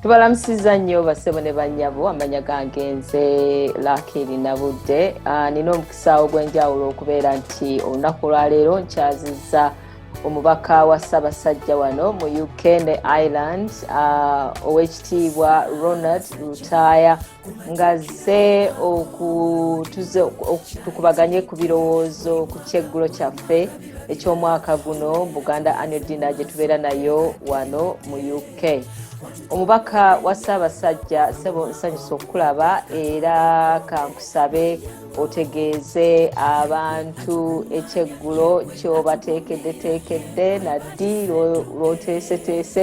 tubalamusiza nnyo basebo ne bannyabo amanya gange nze lakiri nabudde ah, nina omukisa ogw'enjawulo okubeera nti olunaku lwaleero nkyaziza omubaka wa ssaabasajja wano mu uk ne ireland ah, ow'ekitiibwa ronald lutaaya ngazze okutuze tukubaganye ku birowoozo ku kyeggulo kyaffe eky'omwaka guno buganda anio dina gye tubeera nayo wano mu uk omubaka wa ssaabasajja sebo nsanyusa okukulaba era kankusabe otegeeze abantu ekyeggulo kyobateekeddeteekedde naddi lwoteeseteese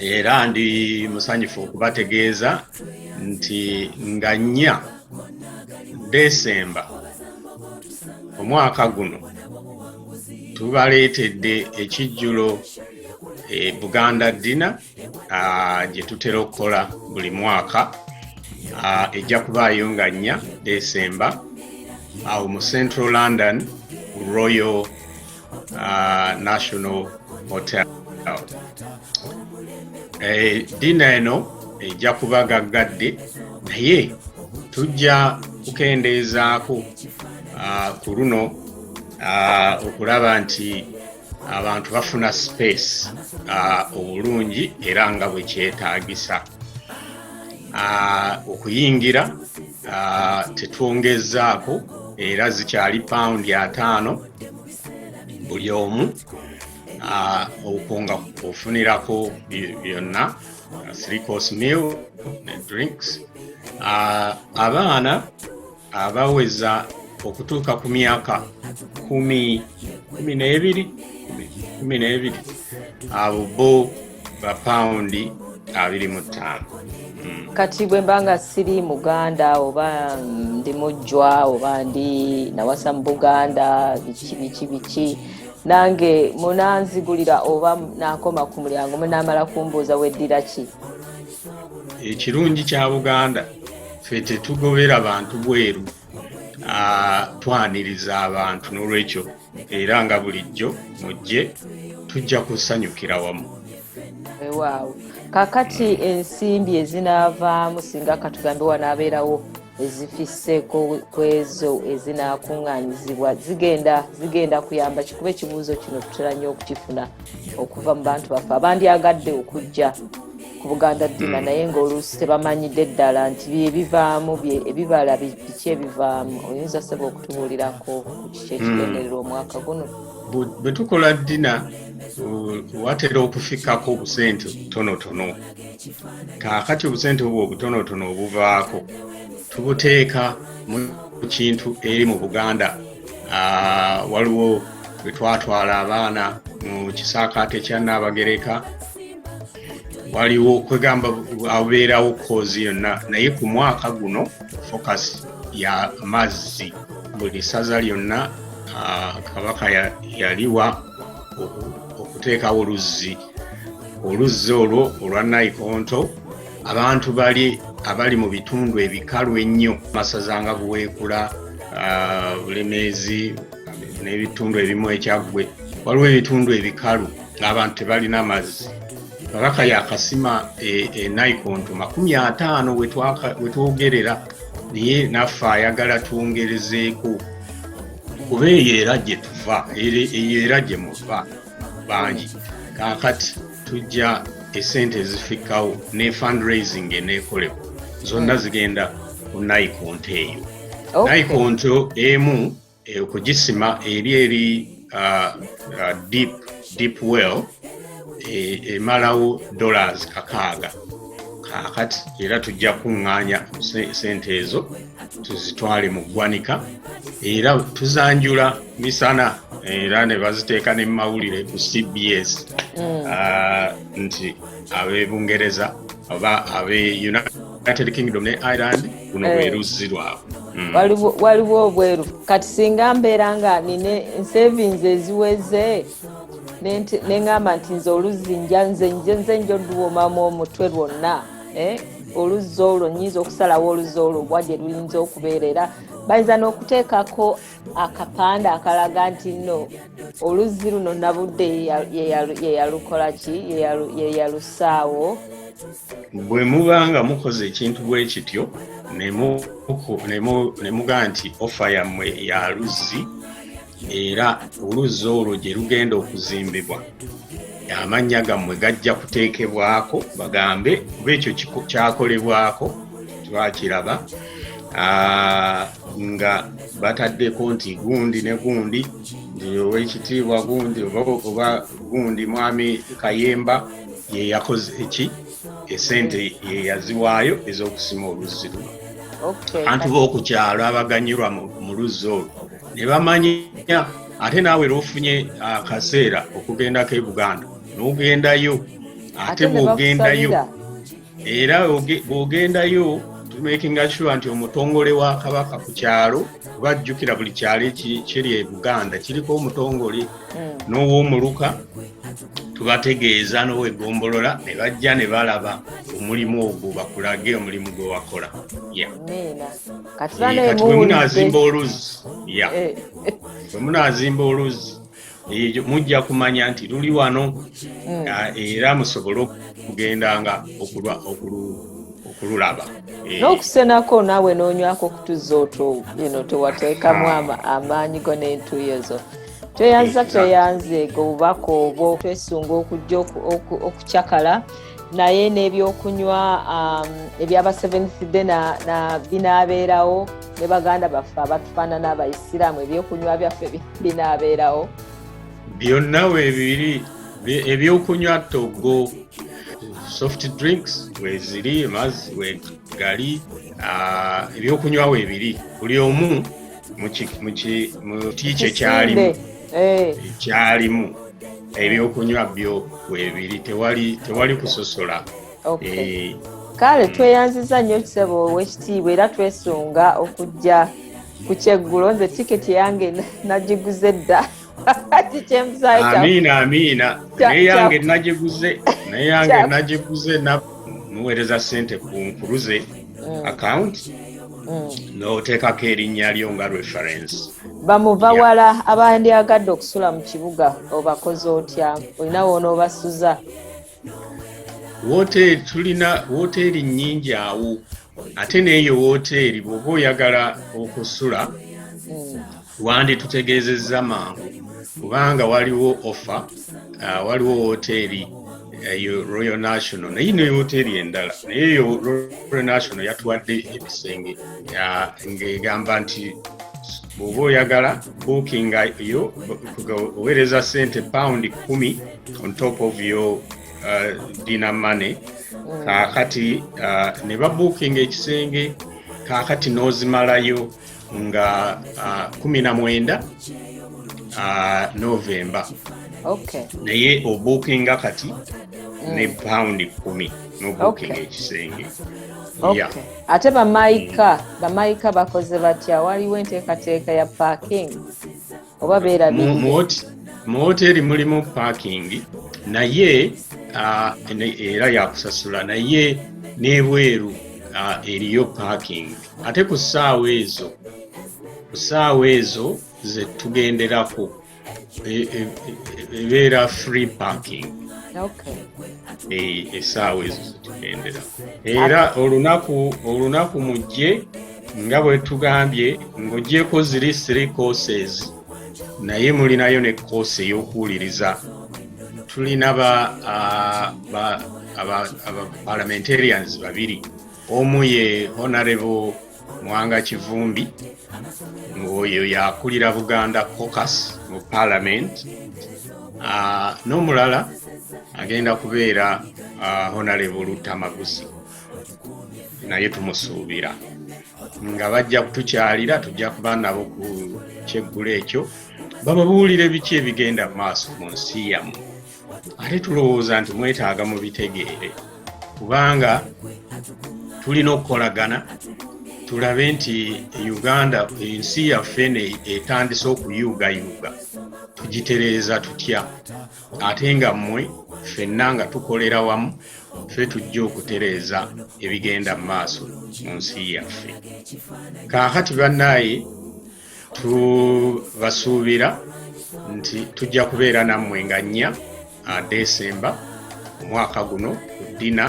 era ndi musanyufu okubategeeza nti nga nnya desemba omwaka guno tubaleetedde ekijjulo e buganda dina gye tutera okukola buli mwaka ejja kubaayo nga nnya desemba awo mu central london royal uh, National Hotel. Eh, dina eno ejja eh, kuba gaggadde naye tujja kukendeezaako uh, ku luno uh, okulaba nti abantu bafuna space uh, obulungi era nga bwe kyetaagisa uh, okuyingira uh, tetwongezzaako era zikyali pawundi ataano buli omu okwo nga ofunirako byonna three course meal ne drinks abaana abaweza okutuuka ku myaka kumi kumi n'ebiri kumi n'ebiri abo bo bapawundi abiri mu ttaano hmm. kati bwe mba nga siri muganda oba ndi mujjwa oba ndi nawasa mu buganda biki biki biki nange munanzigulira oba nakoma ku mulyango munamala kumbuuza weddira ki ekirungi kya buganda fe tetugobera bantu bweru ah, twaniriza abantu n'olwekyo era nga bulijjo mujje tujja kusanyukira wamu wewaawo kakati ensimbi ezinaavaamu singa katugambe wanaabeerawo ezifisseeko ku ezo ezinaakuŋŋaanyizibwa zigenda zigenda kuyamba kikuba ekibuuzo kino tutera nnyo okukifuna okuva mu bantu baffe abandyagadde okujja ku buganda ddina naye ng'oluusi tebamanyidde ddala nti byebivaamu ebibala biki ebivaamu oyinza seba okutubuulirako kyekigendererwa hmm. omwaka guno bwe tukola dina watera okufikako obusente butonotono kakati obusente obwo obutonotono obuvaako tubuteeka mu kintu eri mu buganda ah, waliwo bwe twatwala abaana mu kisaakaate kya naabagereka waliwo kwegamba abeerawo koozi yonna naye ku mwaka guno focus ya mazzi buli ssaza lyonna kabaka yaliwa okuteekawo oluzzi oluzzi olwo olwa naikonto abantu bali abali mu bitundu ebikalu ennyo masaza nga buweekula bulemeezi n'ebitundu ebimu ekyaggwe waliwo ebitundu ebikalu ng'abantu tebalina mazzi kabaka yakasima e, e naikonto makumi ataano wetwogerera naye naffe ayagala twongerezeeko kuba eyo era gye tuva eyo era gye muva bangi kaakati tujja esente ezifikkawo ne fundraising eneekolebwa zonna zigenda ku naikonto eyo naikonto emu eh, okugisima eri eri uh, uh, deep, deep well eh, emalawo dollars kakaaga kakati era tujja kuŋŋaanya sente ezo tuzitwale mu ggwanika era tuzanjula misana era ne baziteeka ne mumawulire ku cbs mm. ah, nti ab'ebungereza oba ab'e united united kingdom ne ireland luno eh. lweruzzi lwabwe mm. waliwo obweru kati singa mbeera nga nina ensavings eziweze neŋamba nti nze oluzzi nja nze nje nze nja oluwomamu omutwe lwonna eh? oluzzi olwo nyinza okusalawo oluzzi olwo bwa gye luyinza okubeera era bayinza n'okuteekako akapande akalaga nti no oluzzi luno nabudde yeyalukola ki yeyalusaawo bwe muba nga mukoze ekintu bwe kityo ne muga nti ofa yammwe ya luzzi era oluzzi olwo gye lugenda okuzimbibwa amannya gammwe gajja kuteekebwako bagambe kuba ekyo kyakolebwako twakiraba nga bataddeko nti gundi ne gundi nti owekitiibwa gundi oba gundi mwami kayemba yeyakoze eki esente yeyaziwaayo ezokusima oluzzi luno bantu bokukyalo abaganyirwa mu luzzi olwo ne bamanya ate naawe lwofunye akaseera okugendako e buganda nogendayo ate bwogendayo era bw'ogendayo tumekinga sure nti omutongole wa kabaka ku kyalo kuba jjukira buli kyalo ekiri e buganda kiriko omutongole hmm. n'owomuluka tubategeeza n'owegombolola ne bajja ne balaba omulimu ogwo bakulage omulimu gwe wakola kati bwemunazimba oluzzi bwemunazimba oluzzi ekyo mujja kumanya nti luli wano mm. ah, era musobole okugendanga okululaba eh. n'okusenako naawe n'onywako okutuzza otu eno tewateekamu ah. amaanyi go n'entuuyo zo tweyanza tweyanze gobubaka obwo twesunga okujja okucakala naye n'ebyokunywa um, ebyaba seventh day binaabeerawo ne baganda baffe abatufaanana abaisiraamu ebyokunywa byaffe binaabeerawo byonna webiri ebyokunywa togo soft drinks weziri mazzi wegali uh, ebyokunywa webiri buli omu mukitiikyo kyalimu eh. kyalimu ebyokunywa byo webiri tewali kusosola eh. kale tweyanziza nnyo kisebo owekitiibwa era twesunga okujja ku kyeggulo nze tiketi yange nagiguze dda amiina amiina naye yange nagiguze naye yange nagiguze muweereza sente ku nkuluze mm. akawunti mm. n'oteekako erinnya lyo nga reference bamuva wala abandyagadde okusula mu kibuga obakoze otya olina wonoobasuza woteeri tulina woteeri nnyingi awo ate n'eyo wooteeri bw'oba oyagala okusula hmm. wanditutegeezezza mangu kubanga waliwo offa uh, waliwo wooteeri eyo eh, royal national naye ne wooteeri endala naye eyo royal national yatuwadde ebisenge uh, ng'egamba nti bw'oba oyagala bookinga yo oweereza sente pawundi kumi on top of your uh, dina money mm. kakati uh, ne babukinga ekisenge kakati nozimalayo nga uh, kumi na mwenda uh, novemba okay. naye obukinga kati mm. ne pound kumi nobukinga okay. ekisenge okay. yeah. ate bamaika mm. bamaika bakoze batya waliwo enteekateeka ya parking oba beerabidde mu woteeri mulimu paakingi naye era yakusasula naye n'ebweru eriyo paakingi ate ku ssaawa ezo ku ssaawa ezo ze tugenderako e, e, e, ebeera free paakingi esaawa ezo zetugendera era olunaku olunaku mujje nga bwe tugambye ng'ogyeko ziri three courses naye mulinayo ne course ey'okuwuliriza tulina ba, uh, ba aba, aba parliamentarians babiri omu ye honorable mwanga kivumbi ng'oyo yakulira buganda cocus mu parliament uh, n'omulala agenda kubeera uh, honorable lutamaguzi naye tumusuubira nga bajja kutukyalira tujja kuba nabo ku kyeggulo ekyo bababuulire biki ebigenda mu maaso mu nsi yamu ate tulowooza nti mwetaaga mu bitegeere kubanga tulina okukolagana tulabe nti uganda ensi yaffe etandise okuyuugayuuga tugitereeza tutya ate nga mmwe ffenna nga tukolera wamu ffe tujja okutereeza ebigenda mu maaso mu nsi yaffe kaakati bannaaye tubasuubira nti tujja kubeera nammwe nga nnya desemba omwaka guno ku dina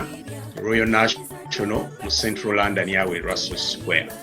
royal national mu central london awe russell square